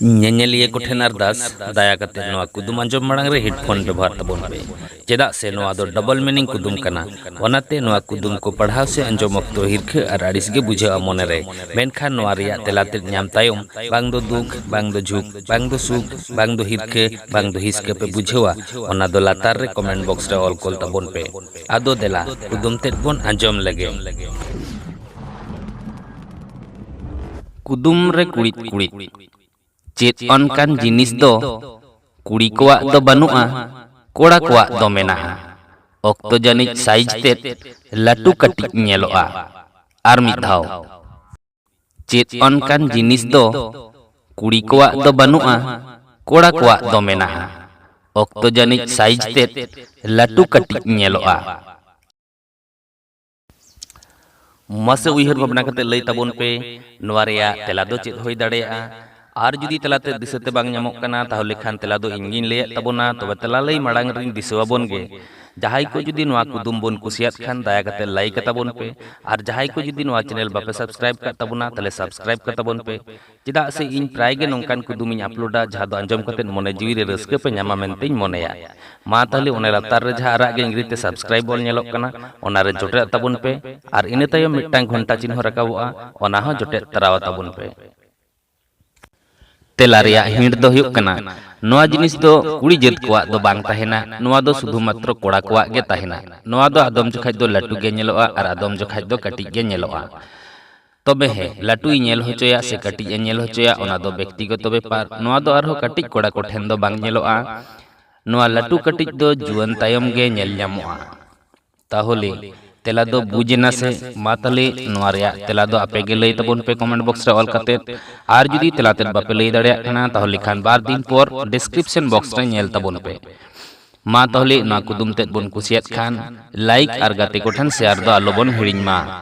ᱧᱮᱧᱮᱞᱤᱭᱟᱹ ᱠᱚᱴᱷᱮᱱ ᱟᱨᱫᱟᱥ, ᱫᱟᱭᱟ ᱠᱟᱛᱮ ᱱᱚᱣᱟ ᱠᱩᱫᱩᱢ ᱟᱸᱡᱚᱢ ᱢᱟᱲᱟᱝ ᱨᱮ ᱦᱮᱰᱯᱷᱳᱱ ᱵᱮᱵᱚᱦᱟᱨ ᱛᱟᱵᱚᱱ ᱯᱮ, ᱪᱮᱫᱟᱜ ᱥᱮ ᱱᱚᱣᱟ ᱫᱚ ᱰᱚᱵᱚᱞ ᱢᱤᱱᱤᱝ ᱠᱩᱫᱩᱢ ᱠᱟᱱᱟ᱾ ᱚᱱᱟᱛᱮ ᱱᱚᱣᱟ ᱠᱩᱫᱩᱢ ᱠᱚ ᱯᱟᱲᱦᱟᱣ ᱥᱮ ᱟᱸᱡᱚᱢ ᱚᱠᱛᱚ ᱦᱤᱨᱠᱷᱟᱹ ᱟᱨ ᱟᱹᱲᱤᱥ ᱜᱮ ᱵᱩᱡᱷᱟᱹᱜᱼᱟ ᱢᱚᱱᱮ ᱨᱮ᱾ ᱢᱮᱱᱠᱷᱟᱱ ᱱᱚᱣᱟ ᱨᱮᱭᱟᱜ ᱛᱮᱞᱟ ᱛᱮᱫ ᱧᱟᱢ ᱛᱟᱭᱚᱢ ᱵᱟᱝ ᱫᱚ ᱫᱩᱠ, ᱵᱟᱝ ᱫᱚ ᱡᱷᱩᱠ, ᱵᱟᱝ ᱫᱚ ᱥᱩᱠ, ᱵᱟᱝ ᱫᱚ ᱦᱤᱨᱠᱷᱟᱹ, ᱵᱟᱝ ᱫᱚ ᱦᱤᱥᱠᱟᱹ ᱯᱮ ᱵᱩᱡᱷᱟᱹᱣᱟ, ᱚᱱᱟ ᱫᱚ ᱞᱟᱛᱟᱨ ᱨᱮ ᱠᱚᱢᱮᱱᱴ ᱵᱚᱠᱥ ᱨᱮ ᱚᱞ ᱠᱳᱞ ᱛᱟᱵᱚᱱ ᱯᱮ᱾ ᱟᱫᱚ ᱫᱮᱞᱟ ᱠᱩᱫᱩᱢ ᱛᱮᱫ ᱵᱚᱱ ᱟᱸᱡᱚᱢ ᱞᱮᱜᱮ᱾ ᱠᱩᱫᱩᱢ ᱨᱮ ᱠᱩᱲᱤᱫ ᱠᱩᱲᱤᱫ ᱪᱮᱫ ᱚᱱᱠᱟᱱ ᱡᱤᱱᱤᱥ ᱫᱚ ᱠᱩᱲᱤ ᱠᱚᱣᱟᱜ ᱫᱚ ᱵᱟᱹᱱᱩᱜᱼᱟ ᱠᱚᱲᱟ ᱠᱚᱣᱟᱜ ᱫᱚ ᱢᱮᱱᱟᱜᱼᱟ ᱚᱠᱛᱚ ᱡᱟᱹᱱᱤᱡ ᱥᱟᱭᱤᱡ ᱛᱮᱫ ᱞᱟᱹᱴᱩ ᱠᱟᱹᱴᱤᱡ ᱧᱮᱞᱚᱜᱼᱟ ᱟᱨ ᱢᱤᱫ ᱫᱷᱟᱣ ᱪᱮᱫ ᱚᱱᱠᱟᱱ ᱡᱤᱱᱤᱥ ᱫᱚ ᱠᱩᱲᱤ ᱠᱚᱣᱟᱜ ᱫᱚ ᱵᱟᱹᱱᱩᱜᱼᱟ ᱠᱚᱲᱟ ᱠᱚᱣᱟᱜ ᱫᱚ ᱢᱮᱱᱟᱜᱼᱟ ᱚᱠᱛᱚ ᱡᱟᱹᱱᱤᱡ ᱥᱟᱭᱤᱡ ᱛᱮᱫ ᱞᱟᱹᱴᱩ ᱠᱟᱹᱴᱤᱡ ᱧᱮᱞᱚᱜᱼᱟ ᱢᱟᱥᱮ ᱩᱭᱦᱟᱹᱨ ᱵᱷᱟᱵᱽᱱᱟ ᱠᱟᱛᱮ ᱞᱟᱹᱭ ᱛᱟᱵᱚᱱ ᱯᱮ ᱱᱚᱣᱟ ᱨᱮᱭᱟᱜ ᱛᱮᱞᱟ ᱫᱚ ᱪᱮᱫ ᱦᱩᱭ ᱫᱟᱲᱮᱭᱟᱜᱼᱟ ᱟᱨ ᱡᱩᱫᱤ ᱛᱮᱞᱟ ᱛᱮ ᱫᱤᱥᱟᱹ ᱛᱮ ᱵᱟᱝ ᱧᱟᱢᱚᱜ ᱠᱟᱱᱟ ᱛᱟᱦᱚᱞᱮ ᱠᱷᱟᱱ ᱛᱮᱞᱟ ᱫᱚ ᱤᱧ ᱜᱤᱧ ᱞᱟᱹᱭᱮᱫ ᱛᱟᱵᱚᱱᱟ ᱛᱚᱵᱮ ᱛᱮᱞᱟ ᱞᱟᱹᱭ ᱢᱟᱲᱟᱝ ᱨᱤᱧ ᱫᱤᱥᱟᱹ ᱟᱵᱚᱱ ᱜᱮ ᱡᱟᱦᱟᱸᱭ ᱠᱚ ᱡᱩᱫᱤ ᱱᱚᱣᱟ ᱠᱩᱫᱩᱢ ᱵᱚᱱ ᱠᱩᱥᱤᱭᱟᱫ ᱠᱷᱟᱱ ᱫᱟᱭᱟ ᱠᱟᱛᱮ ᱞᱟᱭᱤᱠ ᱟᱛᱟᱵᱚᱱ ᱯᱮ ᱟᱨ ᱡᱟᱦᱟᱸᱭ ᱠᱚ ᱡᱩᱫᱤ ᱱᱚᱣᱟ ᱪᱮᱱᱮᱞ ᱵᱟᱯᱮ ᱥᱟᱵᱥᱠᱨᱟᱭᱤᱵ ᱠᱟᱜ ᱛᱟᱵᱚᱱᱟ ᱛᱟᱦᱚᱞᱮ ᱥᱟᱵᱥᱠᱨᱟᱭᱤᱵ ᱠᱟᱛᱟᱵᱚᱱ ᱯᱮ ᱪᱮᱫᱟᱜ ᱥᱮ ᱤᱧ ᱯᱨᱟᱭ ᱜᱮ ᱱᱚᱝᱠᱟᱱ ᱠᱩᱫᱩᱢ ᱤᱧ ᱟᱯᱞᱳᱰᱟ ᱡᱟᱦᱟᱸ ᱫᱚ ᱟᱸᱡᱚᱢ ᱠᱟᱛᱮ ᱢᱚᱱᱮ ᱡᱤᱣᱤ ᱨᱮ ᱨᱟᱹᱥᱠᱟᱹ ᱯᱮ ᱧᱟᱢᱟ ᱢᱮᱱᱛᱮᱧ ᱢᱚᱱᱮᱭᱟ᱾ ᱢᱟ ᱛᱟᱦᱞᱮ ᱚᱱᱮ ᱞᱟᱛᱟᱨ ᱨᱮ ᱡᱟᱦᱟᱸ ᱟᱨᱟᱜ ᱜᱮ ᱤᱝᱨᱮᱡᱤ ᱛᱮ ᱥᱟᱵᱥᱠᱨᱟᱭᱤᱵ ᱚᱞ ᱧᱮᱞᱚᱜ ᱠᱟᱱᱟ ᱚᱱᱟ ᱨᱮ ᱡᱚᱴᱮᱫᱟᱜ ᱛᱟᱵᱚᱱ ᱯᱮ ᱟᱨ ᱤᱱᱟᱹ ᱛᱟᱭᱚᱢ ᱢᱤᱫᱴᱟᱝ ᱜᱷᱚᱱᱴᱟ ᱪᱤᱱᱦᱚ ᱨᱟᱠᱟᱵᱚᱜᱼᱟ ᱚᱱᱟ ᱦᱚᱸ ᱡᱚᱴᱮᱫ ᱛᱟᱨᱟᱣᱟ ᱛᱟᱵᱚᱱ ᱯᱮ᱾ ᱛᱮᱞᱟ ᱨᱮᱭᱟᱜ ᱦᱤᱸᱴ ᱫᱚ ᱦᱩᱭᱩᱜ ᱠᱟᱱᱟ ᱱᱚᱣᱟ ᱡᱤᱱᱤᱥ ᱫᱚ ᱠᱩᱲᱤ ᱡᱟᱹᱛ ᱠᱚᱣᱟᱜ ᱫᱚ ᱵᱟᱝ ᱛᱟᱦᱮᱸᱱᱟ ᱱᱚᱣᱟ ᱫᱚ ᱥᱩᱫᱷᱩ ᱢᱟᱛᱨᱚ ᱠᱚᱲᱟ ᱠᱚᱣᱟᱜ ᱜᱮ ᱛᱟᱦᱮᱸᱱᱟ᱾ ᱱᱚᱣᱟ ᱫᱚ ᱟᱫᱚᱢ ᱡᱚᱠᱷᱟᱡ ᱫᱚ ᱞᱟᱹᱴᱩ ᱜᱮ ᱧᱮᱞᱚᱜᱼᱟ ᱟᱨ ᱟᱫᱚᱢ ᱡᱚᱠᱷᱟᱡ ᱫᱚ ᱠᱟᱹᱴᱤᱡ ᱜᱮ ᱧᱮᱞᱚᱜᱼᱟ᱾ ᱛᱚᱵᱮ ᱦᱮᱸ ᱞᱟᱹᱴᱩᱭ ᱧᱮᱞ ᱦᱚᱪᱚᱭᱟ ᱥᱮ ᱠᱟᱹᱴᱤᱡ ᱮ ᱧᱮᱞ ᱦᱚᱪᱚᱭᱟ ᱚᱱᱟ ᱫᱚ ᱵᱮᱠᱛᱤᱜᱚᱛᱚ ᱵᱮᱯᱟᱨ ᱱᱚᱣᱟ ᱫᱚ ᱟᱨᱦᱚᱸ ᱠᱟᱹᱴᱤᱡ ᱠᱚᱲᱟ ᱠᱚ ᱴᱷᱮᱱ ᱫᱚ ᱵᱟᱝ ᱧᱮᱞᱚᱜᱼᱟ ᱱᱚᱣᱟ ᱞᱟᱹᱴᱩ ᱠᱟᱹᱴᱤᱡ ᱫᱚ ᱡᱩᱣᱟᱹᱱ ᱛᱟᱭᱚᱢ ᱜᱮ ᱧᱮᱞ ᱧᱟᱢᱚᱜᱼᱟ ᱛᱟᱦᱚᱞᱮ ᱛᱮᱞᱟ ᱫᱚ ᱵᱩᱡᱽ ᱮᱱᱟ ᱥᱮ ᱢᱟ ᱛᱟᱦᱚᱞᱮ ᱱᱚᱣᱟ ᱨᱮᱭᱟᱜ ᱛᱮᱞᱟ ᱫᱚ ᱟᱯᱮ ᱜᱮ ᱞᱟᱹᱭ ᱛᱟᱵᱚᱱ ᱯᱮ ᱠᱚᱢᱮᱱᱴ ᱵᱚᱠᱥ ᱨᱮ ᱚᱞ ᱠᱟᱛᱮ ᱟᱨ ᱡᱩᱫᱤ ᱛᱮᱞᱟ ᱛᱮᱫ ᱵᱟᱯᱮ ᱞᱟᱹᱭ ᱫᱟᱲᱮᱭᱟᱜ ᱠᱟᱱᱟ ᱛᱟᱦᱚᱞᱮ ᱠᱷᱟᱱ ᱵᱟᱨ ᱫᱤᱱ ᱯᱚᱨ ᱰᱤᱥᱠᱨᱤᱯᱥᱚᱱ ᱵᱚᱠᱥ ᱨᱮ ᱧᱮᱞ ᱛᱟᱵᱚᱱ ᱯᱮ ᱢᱟ ᱛᱟᱦᱚᱞᱮ ᱱᱚᱣᱟ ᱠᱩᱫᱩᱢ ᱛᱮᱫ ᱵᱚᱱ ᱠᱩᱥᱤᱭᱟᱫ ᱠᱷᱟᱱ ᱞᱟᱭᱤᱠ ᱟᱨ ᱜᱟᱛᱮ ᱠᱚᱴᱷᱮᱱ ᱥᱮᱭᱟᱨ ᱫᱚ ᱟᱞᱚ ᱵᱚᱱ ᱦᱤᱲᱤᱧ ᱢᱟ